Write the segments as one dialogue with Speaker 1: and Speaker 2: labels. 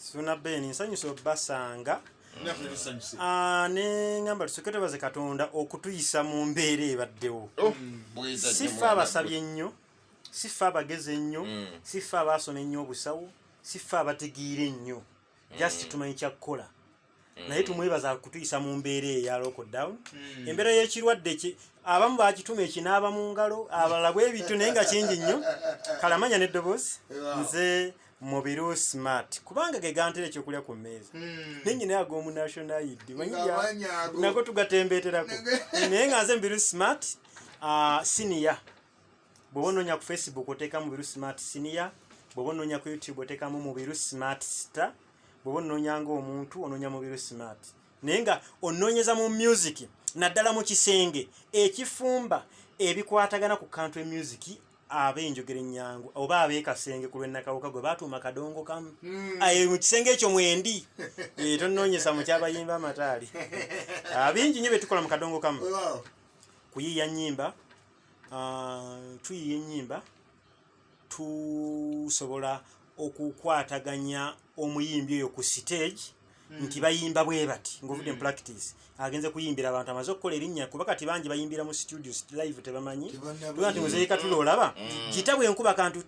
Speaker 1: suna ben nsanyusa obasanga ah, nengamba tusooke twebaze katonda okutuyisa mu mbeera ebaddewo oh, si ffe abasabye ennyo si ffe abagezi ennyo mm. si ffe abaasoma ennyo obusawo si ffe abategeera ennyo just mm. tumanyi kyakukola naye tumwebaza kutuyisa mu mbeera eya lockdown hmm. embeera y'ekirwadde ki abamu bakituma ekinaaba mu ngalo abalala bwe bityo naye nga kingi nnyo kalamanya n'eddoboozi nze mubiru smart kubanga ge gantera ekyokulya ku mmeeza hmm. naye nyina ag'omu national id nago tugatembeeterako naye nga nze mubiru smart ah, siniya bw'oba onoonya ku facebook oteekamu mubiru smart siniya bw'oba onoonya ku youtube oteekamu mubiru smart star bwoba ononya nga omuntu ononya mubiru smart naye nga ononyeza mu music naddala mu kisenge ekifumba ebikwatagana ku kantu emusic aba enjogera ennyangu oba abeekasenge ku lwennakawuka gwe baatuuma kadongo kamu hmm. aye mu kisenge ekyo mwendi eh, tonnoonyesa mu kyabayimba amataali ah, bingi nyo bye tukola mu kadongo kamu kuyiiya nnyimba ah, tuyiiya ennyimba tusobola okukwataganya omuyimbi oyo ku siteegi hmm. nti bayimba bwe bati ngaovudde mupractice hmm. agenze kuyimbira abantu amaze okukola erinnya kuba kati bangi bayimbira mu studio live tebamanyi tuga nti muzeeka tula olaba hmm. kita bwe nkuba kantu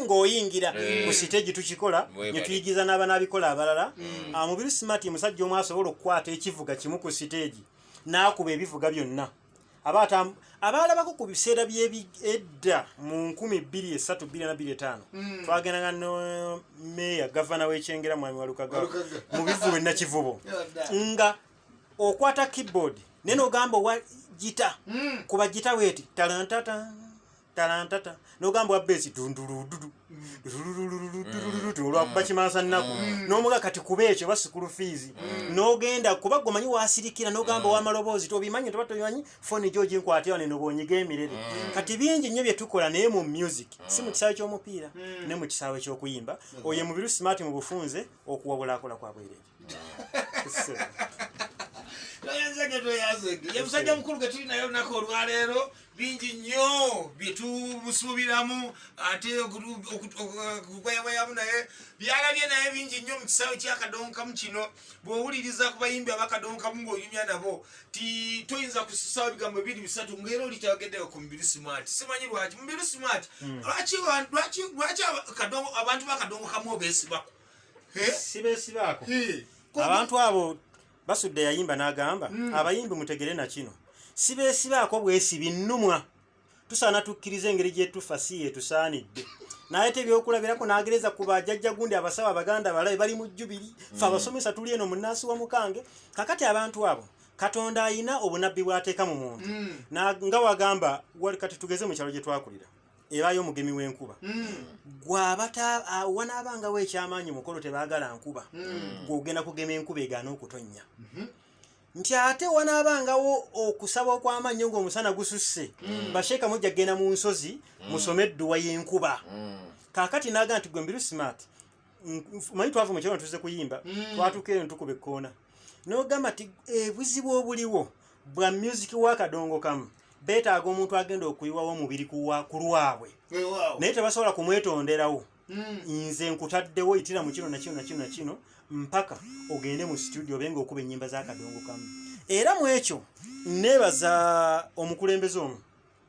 Speaker 1: ng'oyingira ku siteegi tukikola ne tuyigiza n'abanaabikola abalala ah, mubiri smart musajja omu asobola okukwata ekivuga kimu ku siteegi n'akuba ebivuga byonna abaata abaalabako ku biseera by'edda mu nkumi bbiri esatu bbiri na bbiri etaano hmm. twagendanga ne meeya gavana w'ekyengera mwami walukaga mu bivubo enakivubo nga okwata keyboard naye nogamba owa gita hmm. kuba gita weeti talantata talantata nogamba wabba ekidundulududu olwakuba kimansa nnaku nomuga kati kuba ekyo oba sikulu fiizi nogenda kuba gwe omanyi wasirikira nogamba wamaloboozi tobimanyi toba tobimanyi foni gyo ginkwatira neno bonyiga emirere kati bingi nnyo byetukola naye mu music si mu kisaawe kyomupiira ne mu kisaawe kyokuyimba oyo mubiru smart mu bufunze okuwabula akola kwabwerere toyenzege
Speaker 2: toyazege ye musajja mukulu ge tuli naye olunaku olwaleero bingi nnyo byetubusuubiramu ate okugoyagoyamu naye byalabye naye bingi nnyo mu kisaawe kyakadonkamu kino bw'owuliriza ku bayimbi abakadonkamu ng'oyumya nabo ti toyinza kususawo ebigambo bibiri bisatu ngaera oli tayogeddeko ku mubiri smart simanyi lwaki mubiri smart hmm. lwaki abantu bakadonkamu obesibaku sibesibaako
Speaker 1: abantu abo basudde yayimba n'agamba hmm. abayimbi mutegere na kino sibesibaako bwesi binnumwa tusaana tukkiriza engeri gyetufa si yetusaanidde nayete ebyokulabirako nagereza ku bajajja gundi abasawo abaganda balabe bali mu jubiri hmm. fe abasomesa tuli eno munansi wa mukange kakati abantu abo katonda ayina obunabbi bwateeka mu muntu hmm. nga wagamba kati tugeze mu kyalo gye twakulira ebaayo omugemi w'enkuba gwabanaabangawo ekyamaanyi mukolo tebaagala nkuba gweogenda kugema enkuba egaana okutonnya nti ate wanaabangawo okusaba okw'amannyo ng'omusana gususse basheeka mujja kugenda mu nsozi musome edduwa y'enkuba kaakati naaga nti gwe mbiru simaati manyi twava mu kiro tuze kuyimba mm. twatuuka eno tukuba ekkoona n'ogamba ti ebuzibu eh, obuliwo bwa music wa kadongo kamu beetaaga omuntu agenda okuyiwawo omubiri ku lwabwe naye tebasobola kumwetonderawo mm. nze nkutaddewo yitira mu kino nakino nakino nakino mpaka ogende mu situdio obe nga okuba ennyimba za kadongo kamu era mu ekyo neebaza omukulembeze omu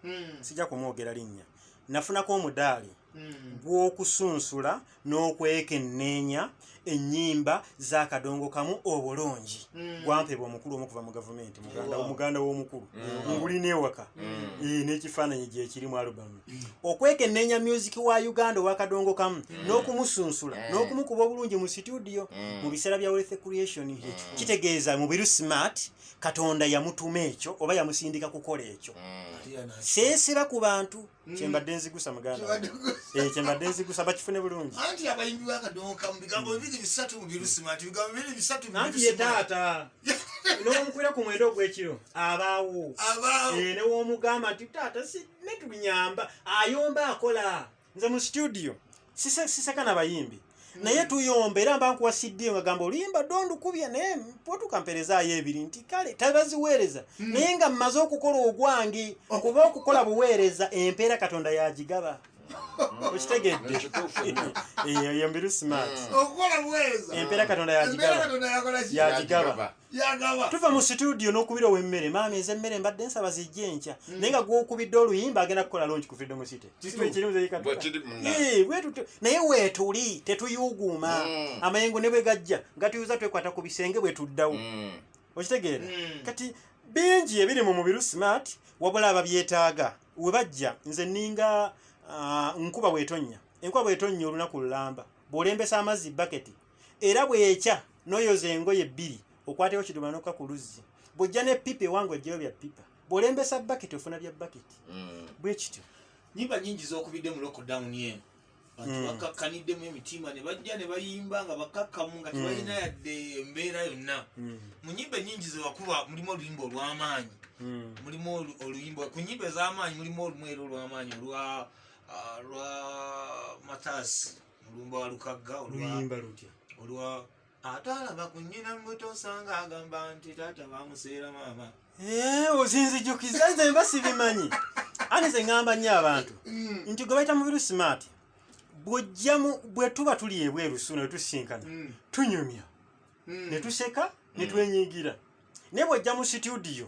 Speaker 1: hmm. sijja kumwogera linnya nafunako omudaali hmm. gw'okusunsula n'okwekenneenya ennyimba z'akadongo kamu obulungi hmm. gwampebwa omukulu omukuva mu gavumenti muganda w'omukulu ngulina ewaka eh, n'ekifaananyi gyekiri mu alubamu okwekenneenya myuziki wa uganda ow'akadongo kamu n'okumusunsula eh. n'okumukuba obulungi mu situdiyo mu biseera bya wealth creation kitegeeza mubiru smart katonda yamutuma ekyo oba yamusindika kukola ekyo mm. seesira ku bantu mm. kyembadde nzigusa muganda eh, kyembadde nzigusa bakifune bulungi anti abayimbi
Speaker 2: bakadonka mu bigambo bibiri bisatu mu birusima nti bigambo bibiri bisatu anti ye taata
Speaker 1: n'omukwira ku mwenda ogw'ekiro abaawo eh, newomugamba nti taata si netunyamba ayomba akola nze mu studio sise- siseka na bayimbi naye tuyomba era mba nkuwa cd nga gamba oluyimba dondukubye naye potuka mperezaayo ebiri nti kale tabaziweereza Mm. naye nga mmaze okukola ogwange Oh. kuba okukola buweereza empeera katonda yagigaba okitegedde Ekituufu nnyo. eyo mbiru smart okukola buweereza
Speaker 2: empeera katonda embeera yagigaba
Speaker 1: katonda yakola ki Yagigaba. tuva mu situdiyo n'okubira ow'emmere maama eza emmere mbadde nsaba zijja enkya mm. naye nga gwokubidde oluyimba agenda kukola longi ku freedom city naye weetuli tetuyuuguuma mm. amayengo ne bwe gajja gatuyuza twekwata ku bisenge bwe tuddawo mm. okitegeera kati bingi ebiri mu mubiru smart wabula ababyetaaga we bajja nze ninga ah, nkuba bwetonnya enkuba bwetonnya olunaku lulamba bw'olembesa amazzi baketi era bwekya noyoza engoye bbiri okwateko kidomola noka ku luzzi bwojja ne pipa ewange ojjayo bya pipa bwolembesa baketi ofuna bya baketi mm. bwekityo nyimba nyingi
Speaker 2: zokubidde mu lockdown eno bantu mm. bakkakkaniddemu emitima ne bajja ne bayimba nga bakkakkamu nga mm. tebalina yadde embeera yonna mu nyimba enyingi zewakuba mulimu oluyimba olw'amaanyi mulimu oluyimba ku nyimba ez'amaanyi mulimu olumu era olw'amaanyi olwa ah, lwa matasi olumba walukagga oluyimba lutya olwa ate alaba ku nnyina mubuto osanga agamba nti taata bamuseera maama eh, ozinzijukiza
Speaker 1: nze mba sibimanyi ani ze ŋamba nnyo abantu mm. nti gwe bayita mubiru smart bwojjamu bwe tuba tuli ebweru suuna wetusinkana mm. tunyumya mm. ne tuseka ne twenyigira naye bwojja mu situdiyo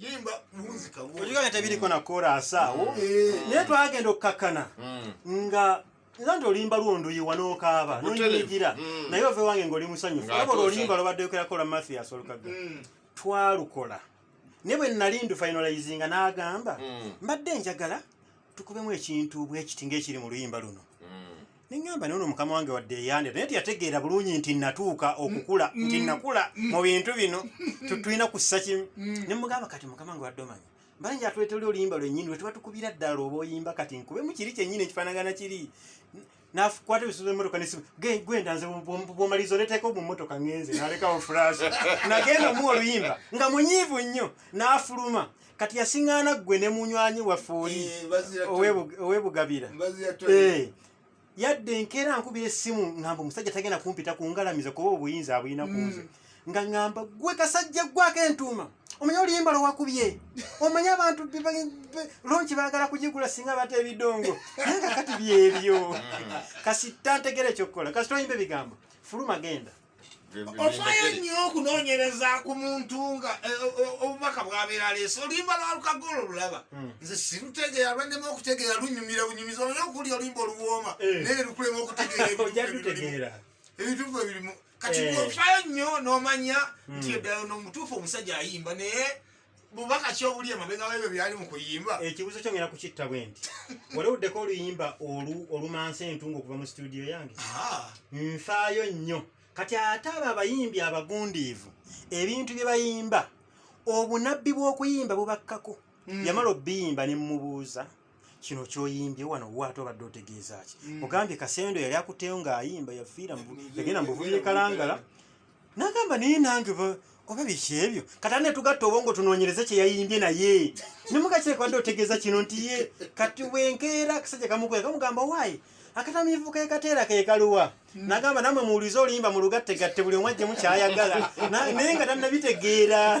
Speaker 2: yimba muzika wo ojiga nga tabiri kona
Speaker 1: korasa wo mm. eh. ne twagenda okukakana mm. nga nza nti olimba lwondo yiwa nokaaba nonyigira mm. naye ove wange ngaoli musanyufu aba olimba lobadde yokerako la mathias olukaga twalukola ne bwe nali ndu finalizinga n'agamba mbadde njagala tukubemu ekintu bwekiti ngaekiri mu luyimba luno neŋŋamba nono mukama wange wadde eyandira naye teyategeera bulungi nti natuuka okukula mm, nti mm, nakula mm. mu bintu bino tulina kussa kimu ne mugamba kati mukama wange wadde omanya mbanja atwetoli oluyimba lwenyini lwetuba tukubira ddala oba oyimba kati nkube mu kiri kyenyini ekifanagana kiri nakwata ebisuza emotoka nesimu gwenda nze bwomaliza oleteeka mu motoka ngenze nalekawo fulash nagenda omuwa oluyimba nga munyiivu nnyo n'afuluma kati yasiŋŋaana ggwe ne munywanyi waffe oli owebugabira yadde enkeera nkubira essimu ngamba omusajja tagenda kumpita ku ngalamiza kuba obuyinza abulina ku nze mm. nga ngamba gwe kasajja ggwako entuuma omanyi oluyimba lwewakubye omanyi abantu lonki bagala kugigula singa bata ebidongo naye nga kati byebyo mm. kasita ntegera ekyokukola kasita oyimba ebigambo fuluma genda ofaayo
Speaker 2: nnyo okunoonyereza ku muntu nga eh, obubaka bwabeera aleese olimba lwalukaga olwo lulaba hmm. nze sirutegeera lwannema okutegeera lunyumira bunyumiza oyo okulya olimba oluwooma eh. naye lukulema okutegeera ebituufu ebirimu kati eh. ofaayo nnyo n'omanya hmm. nti eddala nomutuufu omusajja ayimba naye bubaka ki obuli emabega webyo byali mu kuyimba ekibuzo kyo ngera kukitta
Speaker 1: bwe nti walewuddeko oluyimba olumansa entunga okuva mu situdiyo yange ah. nfaayo nnyo kati ate abo abayimbi abagundiivu ebintu bye bayimba obunabbi bw'okuyimba bubakkako hmm. yamala obiyimba ne mmubuuza kino kyoyimbye wano waate obadde otegeeza ki mm. ogambye kasendo yali akuteyo ng'ayimba yafiira yagenda mubuvubi ekalangala nagamba naye nange oba biki ebyo kati ane tugatta obwongo tunoonyereze kye yayimbye naye nemugakireka badde otegeeza kino nti ye kati wenkeera akasajja kamukwera kamugamba waayi akatamiivu kekateera kekaluwa mm. nagamba namwe muwulize oluyimba mu lugattegatte buli omwajje mukyayagala naye nga tannabitegeera